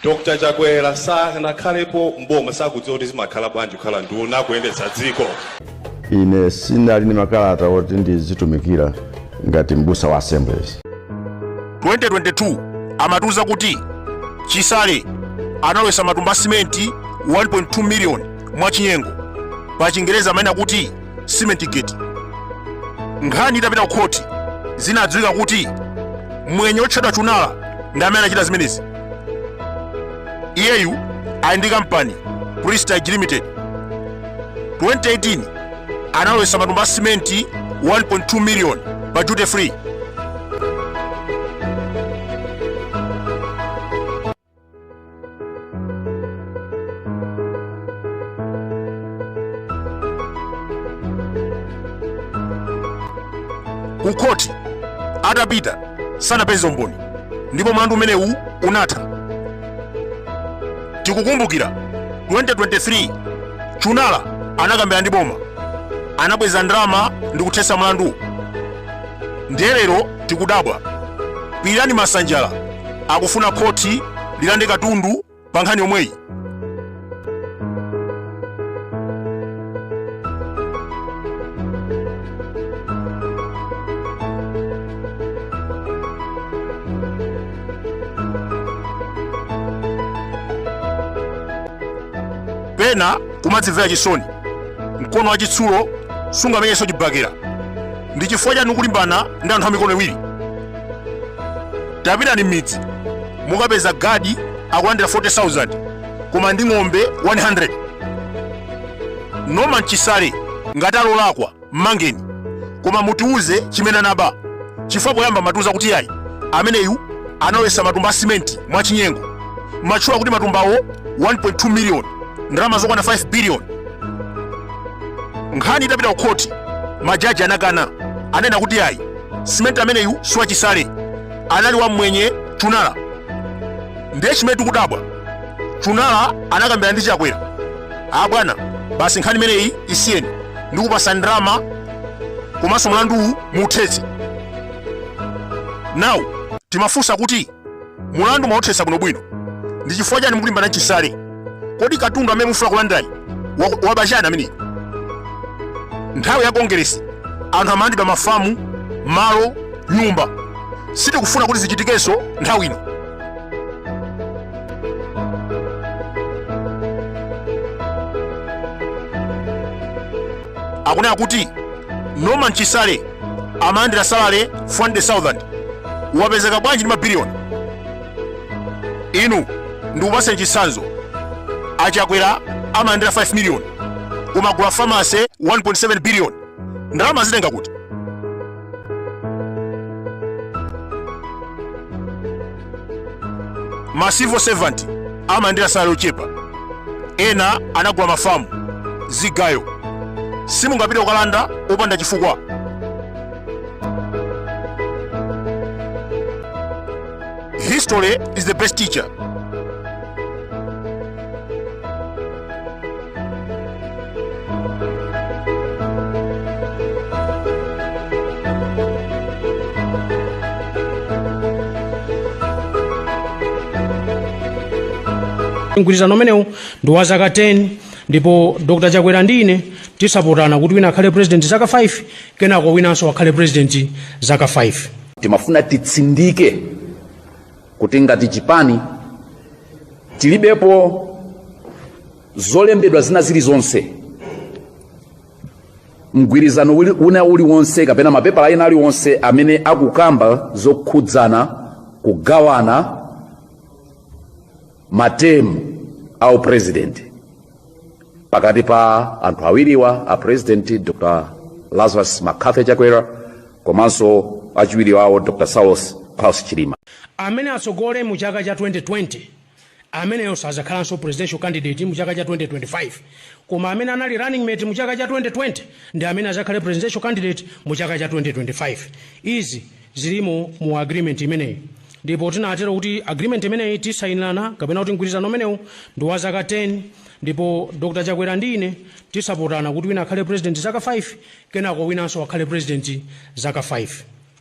Dr Chakwera sanakhalepo m'boma sakudziwa kuti zimakhala bwanji kukhala nduna kuyendetsa dziko. Ine sinali ndi makalata oti ndizitumikira ngati m'busa wa Assemblies. 2022 amatiuza kuti Chisale analowetsa matumba a simenti 1.2 miliyoni mwachinyengo, pachingerezi amanena kuti cement gate nkhani itapita ku khoti zinadziwika kuti mwenye otchedwa Chunara ndi amene anachita zimenezi iyeyu ali ndi kampani prestige limited 2018 analowetsa matumba a simenti 1.2 million pa duty free kukhoti atapita sanapeze umboni ndipo mlandu umenewu unatha tikukumbukira 2023 Chunara anakambirana ndi boma anabweza ndalama ndi kuthetsa mlandu ndiye lero Tikudabwa Pilirani Masanjala akufuna khothi lilande katundu pa nkhani yomweyi. Pena kumadzimvera chisoni, mkono wachitsulo sungamenyenso chibakera. ndi chifukwa chani mukulimbana ndi anthu amikono iwiri tapitani m'midzi mungapeza gadi akulandira 40000 koma ali ndi ng'ombe 100 Norman Chisale ngati alolakwa mmangeni koma mutiuze chimene anaba chifukwa poyamba mumatiuza kuti ayi ameneyu analowetsa matumba a simenti mwachinyengo mumatchula kuti matumbawo 1.2 miliyoni ndalama zokwana 5 biliyoni nkhani itapita ku khoti majaji anakana anena kuti ayi simenti ameneyu siwachisale anali wamwenye Chunara ndiye chimene tikudabwa Chunara anakambirana ndi chakwera a bwana basi nkhani imeneyi isiyeni ndikupatsa ndalama komanso mlanduwu muuthetse now timafunsa kuti mulandu mwauthetsa bwinobwino ndi chifukwa chani mukulimbana ndi Chisale kodi katundu amene mufuna kulandayi waba chani ameneyi nthawi ya kongeresi anthu amalandidwa mafamu malo nyumba sitikufuna kuti zichitikenso nthawi ino akunena kuti norman chisale amalandira salary 400,000 wapezeka bwanji ndi mabiliyoni inu ndikupaseni chitsanzo achakwera amalandira 5 miliyoni koma agula farm ya 1.7 biliyoni ndalama azitenga kuti ma civil servant amalandira salary yochepa ena anagula mafamu zigayo simungapite kukalanda opanda chifukwa history is the best teacher mgwirizano umenewu ndi wa zaka 10 ndipo dr chakwera ndi ine tizapatsana kuti wina akhale president zaka 5 kenako winanso akhale president zaka 5 timafuna titsindike kuti ngati chipani tilibepo zolembedwa zina zilizonse mgwirizano uli- una uliwonse kapena mapepala ena aliwonse amene akukamba zokhudzana kugawana ma term a upresident pakati pa anthu awiriwa a president dr lazarus mccarthy chakwera komanso achiwiri wawo dr saulos klaus chilima amene atsogole mu chaka cha 2020 ameneyo sazakhalanso presidential candidate mu chaka cha 2025 koma amene anali running mate mu chaka cha 2020 ndi amene azakhale presidential candidate mu chaka cha 2025 izi zilimo mu agreement imeneyi ndipo tinatero kuti agreement imeneyi tizayinirana kapena kuti mgwirizano umenewu ndi wa zaka 10 ndipo dr chakwera ndi ine tizapatsana kuti wina akhale president zaka 5 kenako winanso akhale president zaka 5